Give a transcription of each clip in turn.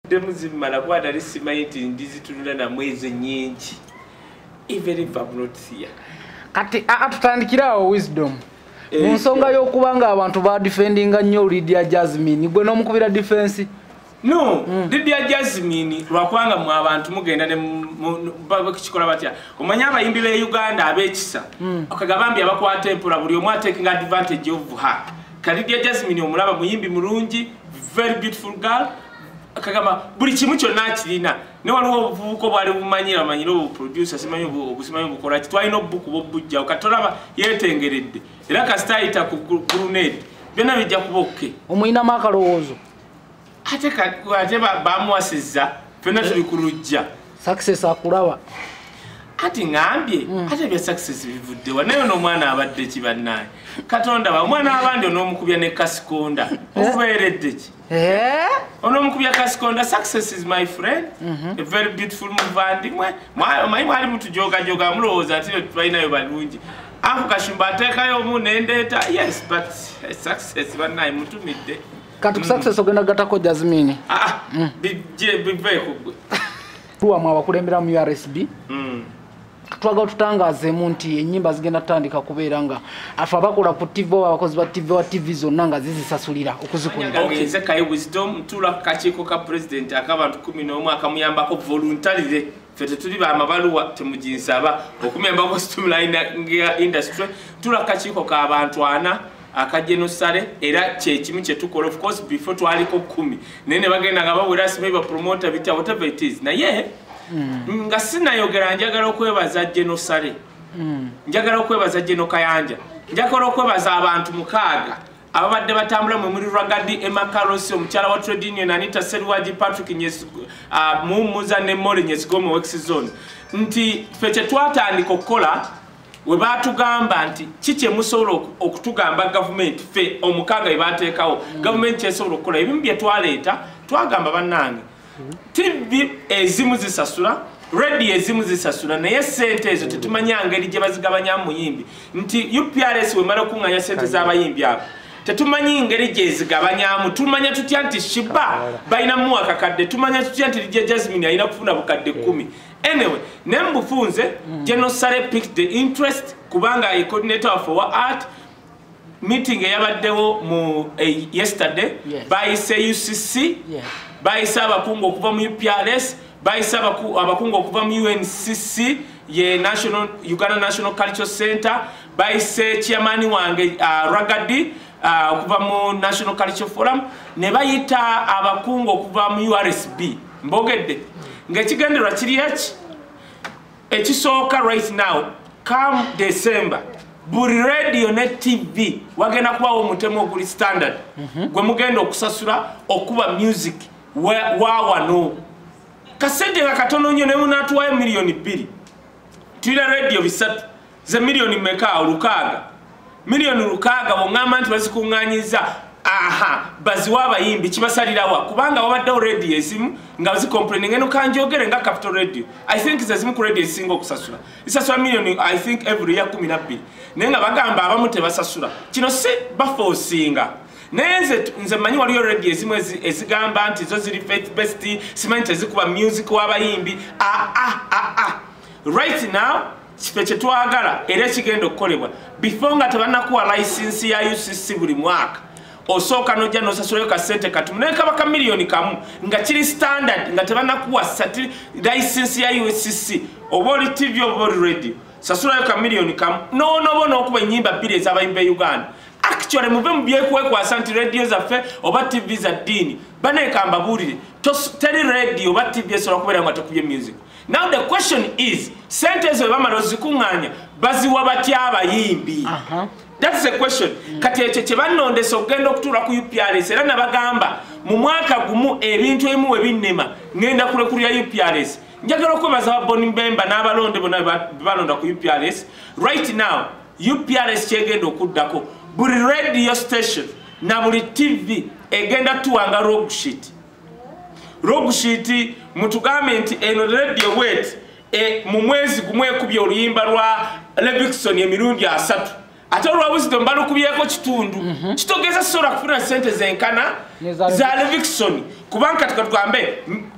demu zimala kuba nali simanyi nti ndizitunula namu ezo nyingi evenivamnotia kati atutandikiraawo wisdom eh, mu nsonga y'okuba nga abantu badefendinga nnyo lydia jasmine gwe n'omukubira difensi no mm. lydia jasmine lwakubanga mu abantu mugenda nekikola batya omanyi abayimbi b'e uganda ab'ekisa mm. okagabambi abakwata empola buli omu atekinga advantage of her Kalidia Jasmine omulaba muyimbi mulungi very beautiful girl kagamba buli kimu kyonna akirina ne waliwo obuvubuka obwali bumanyira amanyira obuproducer simanyi obusimanyi obukola ki twalina obubukuba obujjawo kati olaba yetengeredde era kasita ayita ku grunade byonna bijja kuba okke omulinamu akalowoozo ate ate bamuwasizza fena tuli ku lujja success akulaba ati ngambye mm. ate bya success bivuddewa naye n'omwana abadde ki bannaye katonda ba omwana wabandi onoomukubya ne kasikonda eh? obeeredde ki eh? onoomukubya kasikonda success is my friend mhm. a very beautiful muvandimwe omanyi mwali mutujogajoga mulowooza ati balinayo balungi ako kashumba ateekayo omu nendeeta yes but eh, success bannaye mutumidde kati ku success ogenda gatako jasmine ah, ah mm. bijje bive kugwe tuwa mwa bakulembera mu RSB mm twagala tutangazeemu nti enyimba zigenda tutandika kubeera nga afe abakola ku tv oba abakozi ba tv wa tv zonna nga zizisasulira okuzikuliraeze kaye wisdom tula kakiiko ka pulezidenti akabantu kumi n'omu akamuyambako voluntarire fe tetuli bamabaluwa temuginsaba okumembako stumline industry tuli akakiiko kabantu ana akajenosale era kyekimu kyetukola ofcourse before twaliko kumi naye nebagenda nga bawera simayi bapromota bitya whatever it is naye mm. nga sinayogera njagala okwebaza jenosale mm. njagala okwebaza jenokayanja njagala okwebaza abantu mukaaga ababadde batambula mwe muli ragadi emma carlos omukyala wa trade union anita seruwagi patrick uh, mumuza ne mole nyesigomu wex zone nti fe kyetwatandika okukola we batugamba nti ki kyemusobola okutugamba gavumenti fe omukaaga we bateekawo mm. gavumenti kyesobola okukola ebimu bye twaleeta twagamba bannange tv ezimu zisasula radio ezimu zisasula naye sente ezo tetumanya ngeri gye bazigabanya muyimbi nti uprs wemala okunganya sente z'abayimbi abo tetumanyi ngeri gyezigabanyamu tumanya tutya nti shiba balina muwa kakadde tumanya tutya nti lija jasmine alina kufuna bukadde kumi anyway naye mubufunze mm. genosale pic the interest kubanga ecoordinator waffe wa art meeting eyabaddewo mu eh, yesterday yes. bayise ucc yes. bayise abakungu okuva mu uprs bayise abakungu okuva mu uncc ye national uganda national cultural center bayise chairmani wange uh, ah, ragadi ah, okuva uh, mu national cultural forum ne bayita abakungu okuva mu ursb mbogedde ngaekigendererwa kiri eki ekisooka right now come december buli radio ne tv wagenda kubawo omutemu oguli standard mhm. gwe mugenda okusasula okuba music wawano kasente nga katono nnyo nemunatuwayo miliyoni bbiri tulina radio bisatu ze miliyoni meka olukaaga miliyoni lukaaga bongamba nti bazikunganyizza aha baziwa abayimbi kibasalirawa kubanga wabaddewo radio ezimu nga zicomplaining eno kanjogere nga capital radio i think zezimu ku radio ezisinga okusasula zisasula miliyoni i think every year kumi nabbiri naye nga bagamba abamu tebasasula kino si bafoosinga naye nze nze manyi waliyo radio ezimu ezigamba nti zo ziri faith best simanyi tezikuba music w'abayimbi aa ah, ah, ah, right now kife kyetwagala era ekigenda okukolebwa before nga tebanakuwa license ya ucc buli mwaka osooka nojja nosasulayo kasente katumu naye kaba ka miliyoni kamu nga kiri standard nga tebanakuwa sati license ya ucc oba oli tv oba oli radio sasulayo ka miliyoni kamu nonoba nokuba enyimba bbiri ezabayimba e uganda actually muve mu byekwekwasa nti radio zaffe oba tv za ddiini baneka mbabuulire teri radio oba tv esobola kubeera nga tekubye music now the question is sente ezo bebamala ozikuŋŋaanya baziwa batya abayimbi uh -huh. That's the question. Mm. Kati ekyo kye bannondesa okugenda okutuula ku UPRS era nabagamba mu mwaka gumu ebintu ebimu we binnema ngenda kulekulira UPRS. Njagala okwebaza ba Boni Mbemba n'abalonde bona balonda ku UPRS. Right now UPRS kyegenda okuddako buli radio station na buli TV egenda tuwanga rogue shit. rogushiti mutugambe nti eno radio wet e, mu mwezi gumu ekubye oluyimba lwa levixon emirundi asatu ate olwabuzito mbalukubyeko kitundu mm -hmm. kitogeza sobola kufuna sente zenkana za levixon kubanga kati katugambe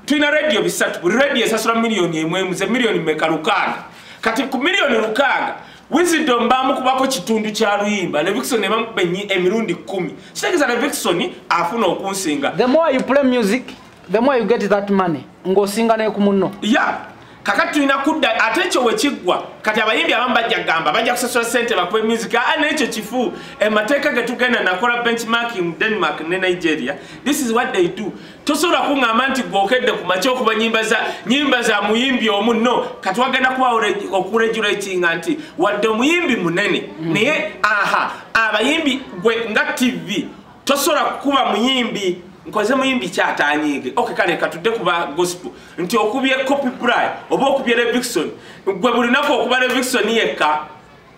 tulina radio bisatu buli radio esasula miliyoni emwemu ze miliyoni meka lukaaga kati ku miliyoni lukaaga Wisdom bamukubako kitundu kya luyimba Levixon ne bamukuba ennyi emirundi kkumi kitegeeza Levixon afuna okunsinga the more you play music the more you get that money ng'osinga ne ku munno yeah kakati tulina kudda ate ekyo we kiggwa kati abayimbi abamu bajja kugamba bajja kusasula sente bakuba music a n'ekyo kifu emateeka ge tugenda nakola benchmarking mu denmark ne nigeria this is what they do tosobola kuŋŋamba nti gwokedde ku makya okuba nyimba za nyimba za muyimbi omu no katwagenda kuba okuregulatinga nti wadde omuyimbi munene mm. naye aha abayimbi gwe nga tv tosobola kukuba muyimbi nkoze muyimbi kyatanyiige ok kale katudde kuba gospel nti okubye copy bri oba okubye revixon gwe bulinaku okuba revixon yekka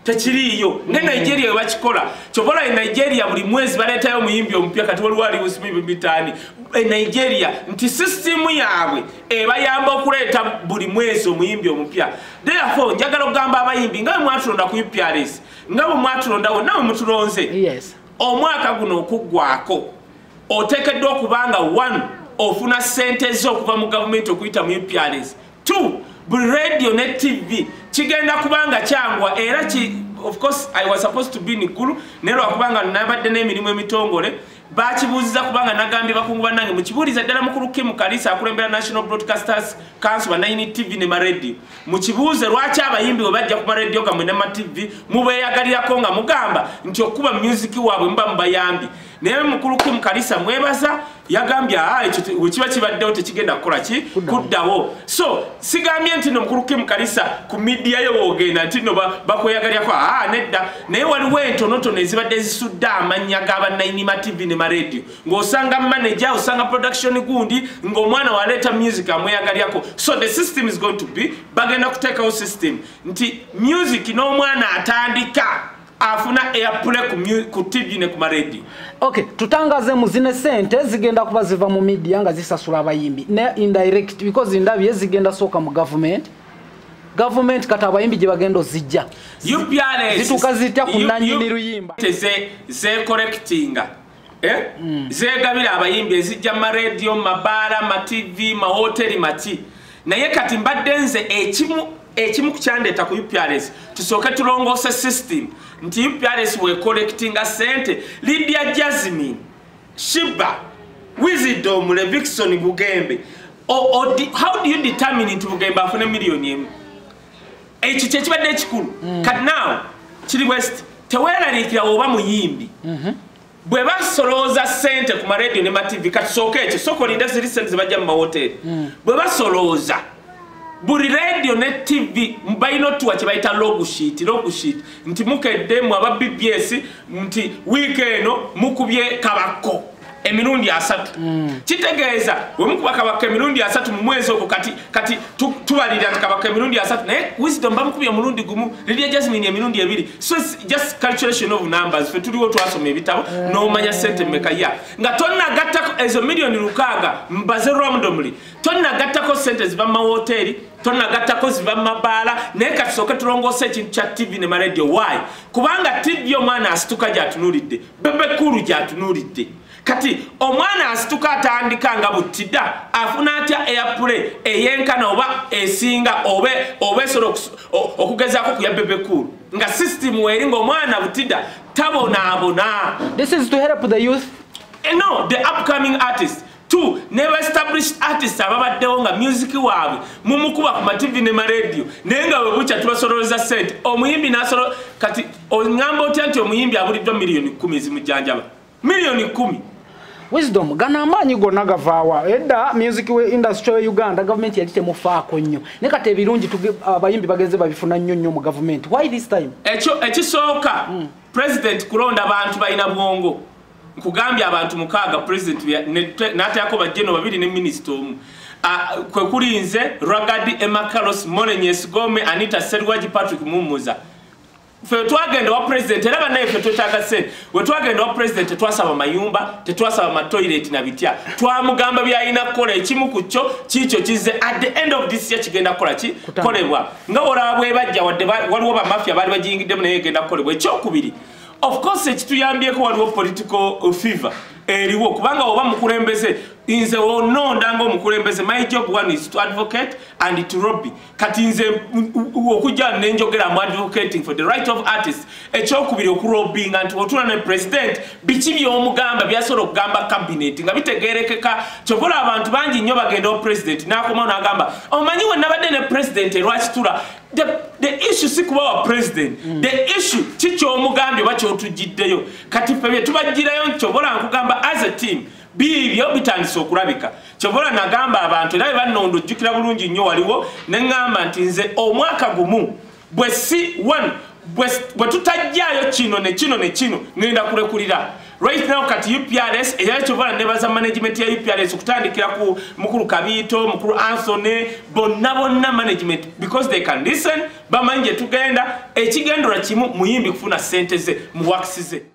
tekiriiyo ne nigeria webakikola kyobola e nigeria buli mwezi baleetayo omuyimbi omupya kati waliwo aliwusimibitaani e nigeria nti sisitimu yaabwe ebayamba okuleeta buli mwezi omuyimbi omupya therefore njagala okugamba abayimbi nga bwemwatulonda ku uprs nga bwemwatulondawo nawe mutulonze omwaka guno okuggwako oteekeddwa okubanga one ofuna sente zo okuva mu gavumenti okuyita mu uprs t buli radio ne tv kigenda kubanga kyangwa era ki of course i was supposed to be in gulu naye lwakubanga nabadde n'emirimu emitongole bakibuuziza kubanga nagambye bakungu bannange mukibuuliza ddala mukulu kimu kalisa akulembera national broadcasters council banayini tv ne maradio mukibuuze lwaki abayimbi we bajja ku maradio gamwe ne matv mubeeyagalirako nga mugamba nti okukuba music waabwe muba mubayambi naye mukulu kim kalisa mwebaza yagambye ah, wekiba kibaddewo tekigenda kukola ki kuddawo so sigambye nti no mukulu kim kalisa ku midiya yo wogenda nti no bakweyagalyako ah, nedda naye waliwo entonotono ezibadde zisudde amannya ga bannayinima tv ne maradio ng'osanga manaja osanga production gundi ng'omwana waleeta music amweyagalyako so the system is going to be bagenda kuteekawo system nti music n'omwana atandika afuna eyapule ku tv ne ku maradio ok tutangaze mu zine sente zigenda kuba ziva mu midia nga zisasula abayimbi ne indirect because ndabye zigenda sooka mu gavumenti gavumenti kati abayimbi gye bagenda ozijja zituuka zitya ku nanyini luyimba zekorekitinga eh? mm. zegabira abayimbi ezijja mu maradio mu mabaala mu matv mu mahoteri maki naye kati mbadde nze ekimu ekimu kukyandeeta ku uprs tusooke tulongoose system nti uprs wekolectinga sente lidia jasmin shiba wisdom levixon bugembe how do you determine nti bugembe afune miliyoni emu ekyo kyekibadde ekikulu mm. kati naawe kiri bwesiti teweraliikira oba muyimbi mhm. bwe basolooza sente ku maradio ne mativi katusooka ekyo sooka olinde ziri sente zebajja mu mawoteeri mm. bwe basolooza buli radio ne tv balina otuwa kyebayita logsheet logsheet nti mukedde mwe aba bbs nti wiiki eno mukubye kabakko emirundi asatu hmm. kitegeeza wemukuba kabaka emirundi asatu mu mwezi ogwo kati kati tubalirira nti kabaka emirundi asatu naye wisdom bamukubye omulundi gumu lidia jasmine emirundi ebiri so just calculation of numbers fe tuliwo twasoma ebitabo hmm. nomanya sente meka ya nga tonagattako ezo miliyoni lukaaga mbaze romdomly tonagattako sente ziva mu mawoteeri tonagattako ziva mu mabaala naye katusooke tulongoosa ekintu kya tv ne maradio y kubanga tv omwana asituka gyatunulidde bebe kulu gyatunulidde kati omwana asituka atandika nga buttida afuna atya airplay eyenkana oba esinga oba oba esobola okugezaako kuya bebe kulu nga system weeri ngaomwana buttida tabonaabona this is to help the youth eh, no the upcoming artist two ne ba established artists ababaddewo nga music waabwe mumukuba ku mativi ne maradio naye nga webukya tubasololeza sente omuyimbi nasolo kati ongamba otya nti omuyimbi abuliddwa miliyoni kumi ezimujjanjaba miliyoni kumi wisdom gano amaanyi gonna gavaawa edda music we industry we uganda gavumenti yali temufaako nnyo ne kati ebirungi abayimbi bagenze babifuna nnyo nnyo mu gavumenti why this time ekyo ekisooka mm. president kulonda bantu balina bwongo nkugambye abantu mukaaga president natayako bajeno babiri ne minisita omu kwekuli nze ragadi emakaros molenyesgome anita serwaji patrick mumuza fe twagenda wa president era banaye fe twetaga sente wetwagenda wa president tetwasaba mayumba tetwasaba matoilet na bitya twamugamba byalina kukola ekimu ku kyo kiikyo kize at the end of this year kigenda kukola ki kolebwa nga olaba bwebajja wadde waliwo bamafia baali bajiyingiddemu naye egenda kukolebwa ekyokubiri of course ekituyambyeko waliwo political uh, fever eriwo kubanga oba mukulembeze nze ononda nga omukulembeze my job one is to advocate and to robby kati nze okujja nenjogera mu advocating for the right of artist ekyokubiri okurobbinga nti otula ne president biki byomugamba byasobola okugamba cabinet nga bitegerekeka kyobola abantu bangi nnyo bagenda o president nakomawo nagamba omanyi wenabadde ne president erwakitula the, the issue si kuba wa president mm. the issue ki kyomugambye oba kyotujjiddeyo kati fe byetubajjirayo nkyobola nkugamba as a team biibyo bitandise okulabika kyobola nagamba abantu era bebanondo ojjukira bulungi nnyo waliwo neŋŋamba nti nze omwaka gumu bwe si one bwe tutajjaayo kino ne kino ne kino ngenda kulekulira right now kati uprs era kyovala nebaza management ya uprs okutandikira ku mukulu kabiito mukulu anthony bonna bonna management because they can listen bamanyi gye tugenda ekigendera kimu muyimbi kufuna sente ze mu wakisi ze